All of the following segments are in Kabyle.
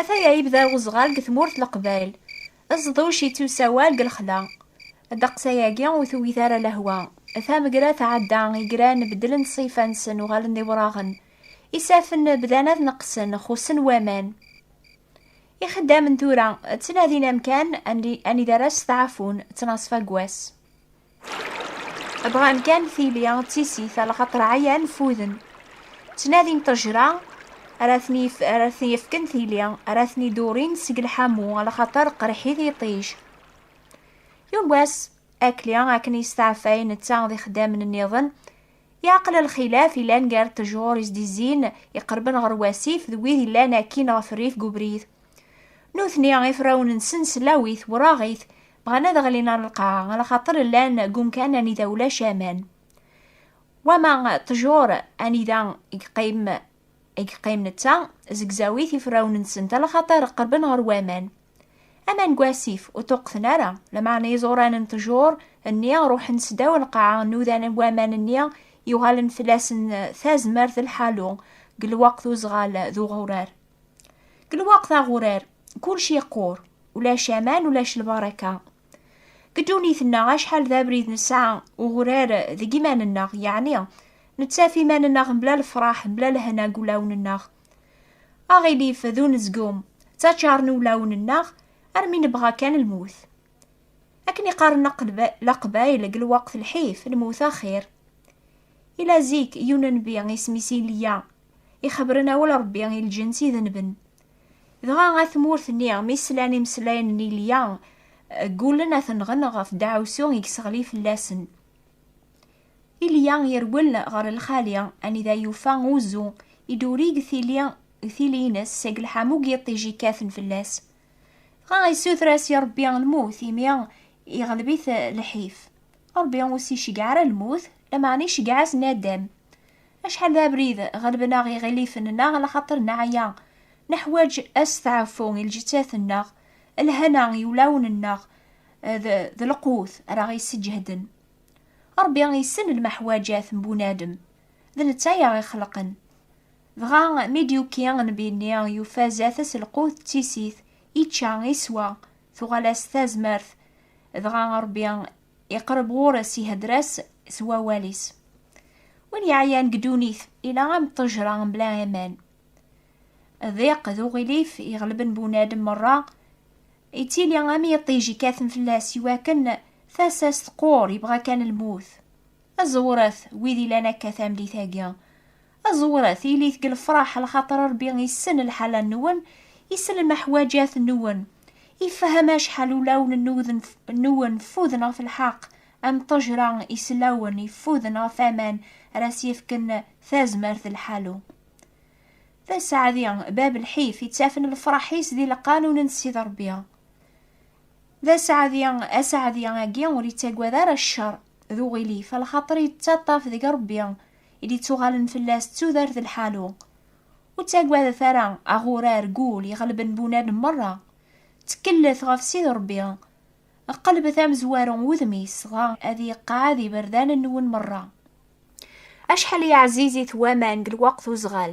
Ataya yebda uzɣal deg tmurt leqbayl, aẓḍuc yettusawal deg lexla. Ddeqs-ayagi ur tewwit ara lehwa. Tamegra tɛedda, igran beddlen ṣṣifa-nsen, uɣalen d iwraɣen. Isafen bdan ad neqqsen, xussen waman. Ixeddamen tura ttnadin amkan anida ara steɛfun ttnaṣfa n wass. Bɣan kan tili d tisit a lxaṭer ɛyan fuden. Ttnadin ṭejra ara ten-yefken tili, ara ten-idurin seg lḥamu a lxaṭer qerrḥit yiṭij. Yuggas Akli akken yesteɛfay netta d ixeddamen nniḍen Yeɛqel lxilaf yellan gar ṭṭjur i s-d-izzin, iqerben ɣer wasif, d wid yellan akkin ɣef rrif deg ubrid. Nutni, ifrawen-nsen s llawit, wraɣit, bɣan ad ɣlin ɣer lqaɛa, ɣer lxaṭer llan deg umkan anida ulac aman. Wama ṭṭjur anida i yeqqim I yeqqim netta, zegzaw-it ifrawen-nsen talaxaṭer qerben ɣer waman. Aman n wasif ur ṭuqqten ara, lameɛna iẓuran n tjur nni ruḥen sdaw lqaɛa, nudan waman nni yuɣalen fell-asen tazmert d lḥalu deg lweqt uzɣal d uɣurar. Deg lweqt aɣurar, kullec yeqqur, ulac aman, ulac lbaraka. Deg ddunit-nneɣ acḥal d abrid nesɛa ugrar deg iman-nneɣ, yeɛni nettaf iman-nneɣ mebla lefraḥ, mebla lehna deg ulawen-nneɣ. Aɣilif d unezgum ttaččaren ulawen-nneɣ armi nebɣa kan lmut. Akken i qqaren laqbayl deg lweqt lḥif, lmut axir. Ila zik yun nnbi isem-is Ilya, ixebren awal Rebbi i lǧens idenben, Dɣa at tmurt-nni mi slan imeslayen n Ilya, ggulen ad ten-nɣen ɣef deɛwsu i yesseɣli fell-asen. Ilya yerwel ɣer lxali anida yufa uzu i d-urig tili tili-ines seg lḥamu n yiṭij yekkaten fell-as. Dɣa yessuter-as i Rebbi lmut imi iɣleb-it lḥif. Rebbi ur s-iceggeɛ ara lmut, lameɛna iceggeɛ-as nadam. Acḥal d abrid ɣelben-aɣ iɣilifen-nneɣ laxaṭer neɛya, neḥwaǧ asteɛfu i lǧettat-nneɣ, lhana i wulawen-nneɣ d d lqut ara ɣ-isseǧehden. Ṛebbi issen lmeḥwaǧat n bunadem, d netta i aɣ-ixelqen. Dɣa mi d-yuki nnbi-nni yufa zdat-s lqut d tisit, ičča, iswa, tuɣal-as tazmert, dɣa Ṛebbi. iqreb ɣur-s ihedder-as s wawal-is. Win yeɛyan deg ddunit ila am ṭṭejra mebla aman. Diq d uɣilif iɣelben bunadem merra, yettili am yiṭij ikkaten fell-as iwakken tasa-s teqqur, yebɣa kan lmut. Aẓewret wid ilan akka tameddit-agi. Aẓewret, ilit deg lefraḥ, lxaṭer Ṛebbi issen lḥala-nwen, issen lmeḥwaǧat-nwen, ifehhem acḥal ulawen nwen ffuden ɣef lḥeqq, am ṭṭejra isellawen iffuden ɣef aman ara s-yefken tazmert d lḥalu. D aseɛdi, bab lḥif, ittafen lefraḥ-is di lqanun n Ssid Ṛebbi. D aseɛdi, aseɛdi agi ur ittagad ara ccer. d uɣilif, lxaṭer yettaṭṭaf deg Ṛebbi i d-ittuɣalen fell-as d tudert d lḥalu. Ur ttagadet ara, a ɣurar, gul iɣelben bunad meṛṛa. Tteklet ɣef Sidi Ṛebbi, qelbet amezwaru n wudem-is, dɣa ad iqeɛɛed iberdan-nwen meṛṛa. Acḥal i ɛzizit waman deg lweqt uzɣal!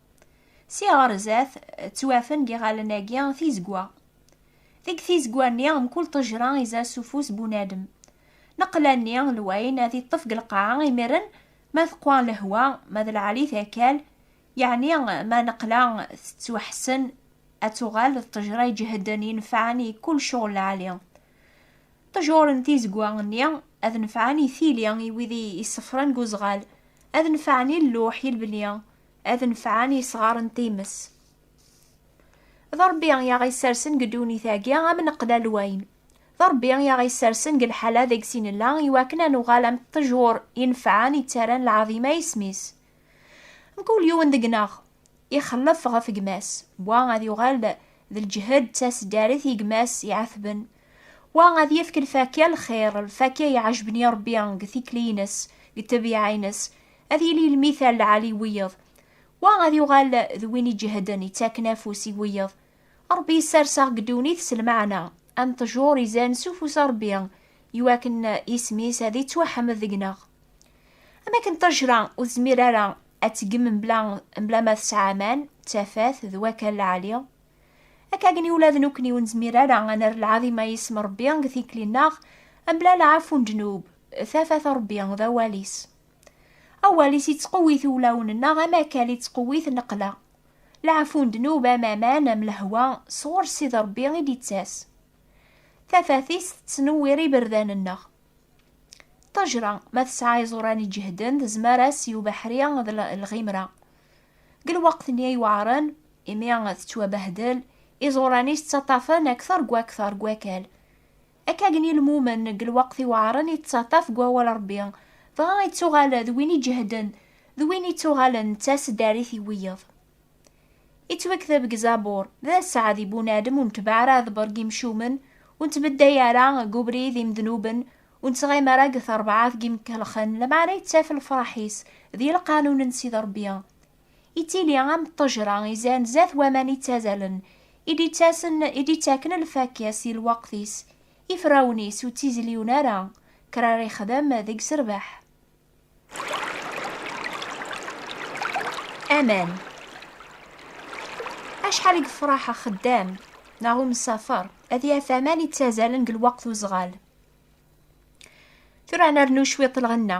Si ɣer zdat, ttwafen giɣalen-agi tizegwa. Deg tizegwa-nni, mkul ṭejra iza s ufus bunadem. Neqla-nni, lwayen ad iṭṭef deg lqaɛa imiren ma teqwa lehwa, ma d lɛalit akal, yeɛni ma neqla tettwaḥessen ad tuɣal d ṭejra iǧehden inefɛen i kul cɣel lɛali. Ṭejur n tizegwa-nni ad nefɛen i tili i wid i isefren deg uzɣal, ad nefɛen i lluḥ, i lebni, ad nefɛen yesɣaren times. D Ṛebbi i aɣ-issersen deg ddunit-agi am neqlal wayen. D Ṛebbi i aɣ-issersen deg lḥala deg-s i nella i wakken ad nuɣal am ṭṭejur inefɛen yettaran lɛaḍima i isem-is. Mkul yiwen deg-neɣ ixellef ɣef gma-s, wa ad yuɣal d lǧehd d taseddarit i gma-s iɛetben, wa ad yefk lfakya n lxir, lfakya iɛejben i Ṛebbi deg tikli-ines, deg ṭṭebyeɛ-ines, ad yili lmithal lɛali i wiyeḍ, wa ad yuɣal d win iǧehden ittaken afus i wiyeḍ. Ṛebbi yessers-aɣ deg ddunit s lmeɛna, am ṭṭjur izan s ufus n Ṛebbi, iwakken isem-is ad ittwaḥmed deg-neɣ. Am akken ṭṭejra ur tezmir ara ad teggem mebla mebla ma tesɛa aman, d tafat, d wakal lɛali, akkagen ula d nekkni ur nezmir ara ad nerr lɛaḍima i yisem n Ṛebbi deg tikli-nneɣ mebla lɛafu n ddnub, tafat n Ṛebbi d awal-is. Awal-is ittqewwit ulawen-nneɣ am akal ittqewwit neqla. Leɛfu n ddnub am aman am lehwa sɣur Ssid Rebbi i d-ittas. Tafat-is tettnewwir iberdan-nneɣ. Ṭṭejra, ma tesɛa iẓuran iǧehden, tezmer-as i ubeḥri d lɣimra. Deg lweqt-nni iweɛren, imi tettwabehdel, iẓuran-is ttaṭṭafen akter deg wakter deg wakal. Akka gen i lmumen deg lweqt iweɛren yettaṭṭaf deg wawal Ṛebbi, dɣa ittuɣal d win iǧehden, d win ittuɣalen d taseddarit i wiyeḍ. Ittwekteb deg Zabur, D aseɛd i bunadem ur netbeɛ ara aḍebber deg imcumen, ur nettbedday ara deg ubrid imednuben, ur nettɣim ara deg terbaɛt n yimkellxen, lameɛna yettaf lefraḥ-is di lqanun n Sidi Ṛebbi, Ittili am ṭṭejra izan zat waman ittazalen, i d-ittasen, i d-ittaken lfakk-is i lweqt-is, ifrawen-is ur ttizliun ara, kra ara yexdem deg serbeḥ. Aman. Acḥal i yefraḥ axeddam neɣ umsafer ad yaf aman ittazalen deg lweqt uzɣal. Tura ad nernu cwiṭ lɣenna.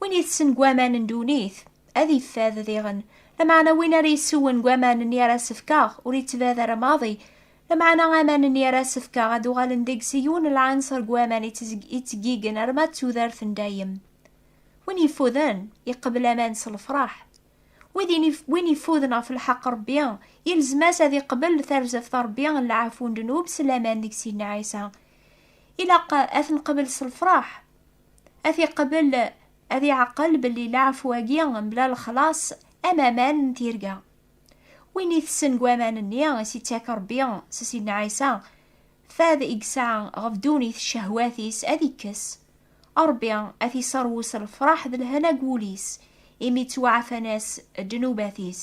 Win itessen deg waman n ddunit, ad yeffad diɣen. Lameɛna win ara yessewwen deg waman-nni ara s-fkeɣ, ur yettbad ara maḍi. Lameɛna aman-nni ara s-fkeɣ ad uɣalen deg-s yiwen n lɛinṣer deg waman ittgeggigen arma d tudert n dayem. Win yeffuden, iqebbel aman s lefṛaḥ. Win yeffuden ɣef lḥeqq n Ṛebbi, yelzem-as ad iqebbel tarzeft n Ṛebbi n leɛfu n ddnub s laman deg Sidna Ɛisa. Ilaq ad t-nqebbel s lefṛaḥ. Ad t-iqbel, ad iɛqel belli laɛfu-agi mebla lexlaṣ am aman n tirga. Win itessen deg waman-nni i s-ittak Rebbi s Sidna Ɛisa, fad i yesɛa ɣef ddunit d cehwat-is ad ikkes. Rebbi ad t-iseṛwu s lefṛaḥ d lehna deg wul-is, imi ttwaɛfan-as ddnubat-is.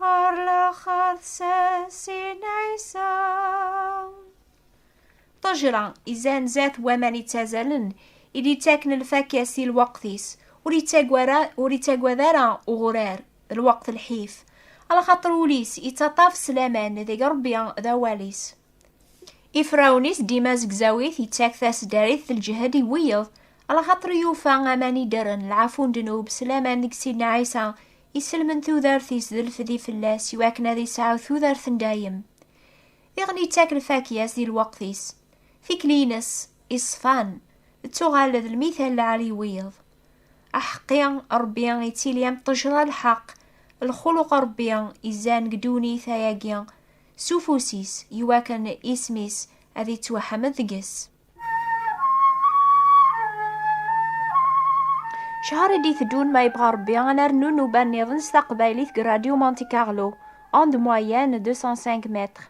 Ar laxert sasin ɛisa. Ṭajra izan zat waman ittazalen i d-ittaken lfakya si lweqt-is, ur ittagwad ara, ur ittagwad ara uɣurar, d lweqt lḥif, alaxaṭer ul-is ittaṭṭaf s laman deg Ṛebbi d awal-is. Ifrawen-is dima zegzaw-it, ittak tasdarit d lǧehd i wiyeḍ, alaxaṭer yufa aman iddren, lɛafu n ddnub, s laman deg Sidna Ɛisa, Iselmen tudert-is d lfedi fell-as i wakken ad isɛu tudert n dayem. Diɣen yettak lfakya-s di lweqt-is. Tikli-ines, iṣfan, d tuɣal d lmital lɛali i wiyeḍ. Aḥeqqi, Ṛebbi ittili am ṭṭejṛa lḥeqq, lxuluq Ṛebbi izan deg ddunit ayagi s ufus-is i wakken isem-is ad ittwaḥmed deg-s. Cahar i d-iteddun ma yebɣa Rebbi ad nernu nnuba nniḍen s taqbaylit deg Radio Monte Carlo, onde moyenne 205 mètres.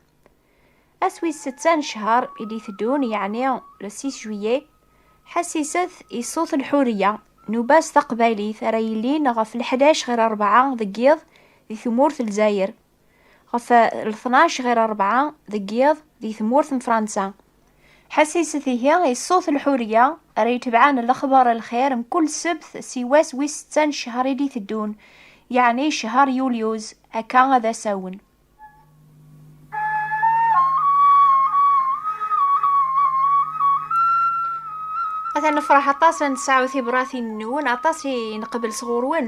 Ass wis setta n ccahar i d-iteddun, yeɛni le 6 juillet, ḥassiset i ṣṣut n Ḥuriya, nnuba s taqbaylit ara yilin ɣef leḥdac ɣir rebɛa deg yiḍ di tmurt n Lezzayer. ɣef lṭnac ɣir rebɛa deg yiḍ di tmurt n Fransa. Ḥassiset ihi i ṣṣut lḥuriya ara yetebɛen lexbar lxir mkul ssebt si wass wis setta n ccehr i d-iteddun, yeɛni ccehr yulyuz, akka ad as-awen. Atan nefreḥ aṭas ad nesɛu tibratin-nwen, aṭas i nqebbel sɣur-wen.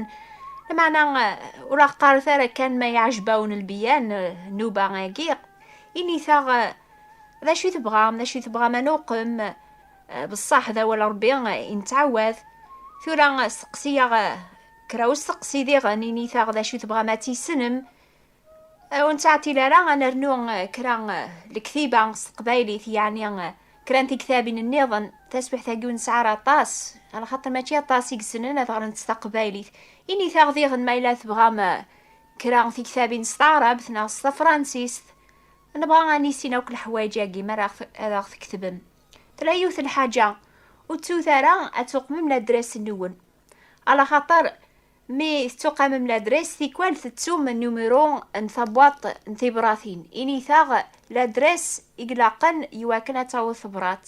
Lmeɛna ur aɣ-qqaret ara kan ma iɛjeb-awen lbiyan, nnuba agi, init-aɣ d acu i tebɣam, d acu i tebɣam ad nuqem, beṣṣaḥ d awal Rebbi i nettɛawad. Tura steqsi-yaɣ kra usteqsi diɣen, init-aɣ d acu i tebɣam ad tissnem, Ur nettɛeṭṭil ara ad nernu kra lektiba s teqbaylit, yeɛni kra n tektabin nniḍen. Taswiɛt-agi ur nesɛi ara aṭas, ɣer xaṭer mačči aṭas i yessnen ad ɣren s taqbaylit. Init-aɣ diɣen ma yella tebɣam kra n tektabin s taɛrabt neɣ s tafransist. Nebɣa ad nissin akk leḥwayeǧ-agi mi ara ad aɣ-tketbem. Tella yiwet n lḥaǧa, ur ttut ara ad tuqmem ladres-nwen, ɣer xaṭer, Mi tettuqamem ladres, tikwal tettum numero n tabwaḍt n tibratin. Init-aɣ ladres i ilaqen iwakken ad tawḍ tebṛat.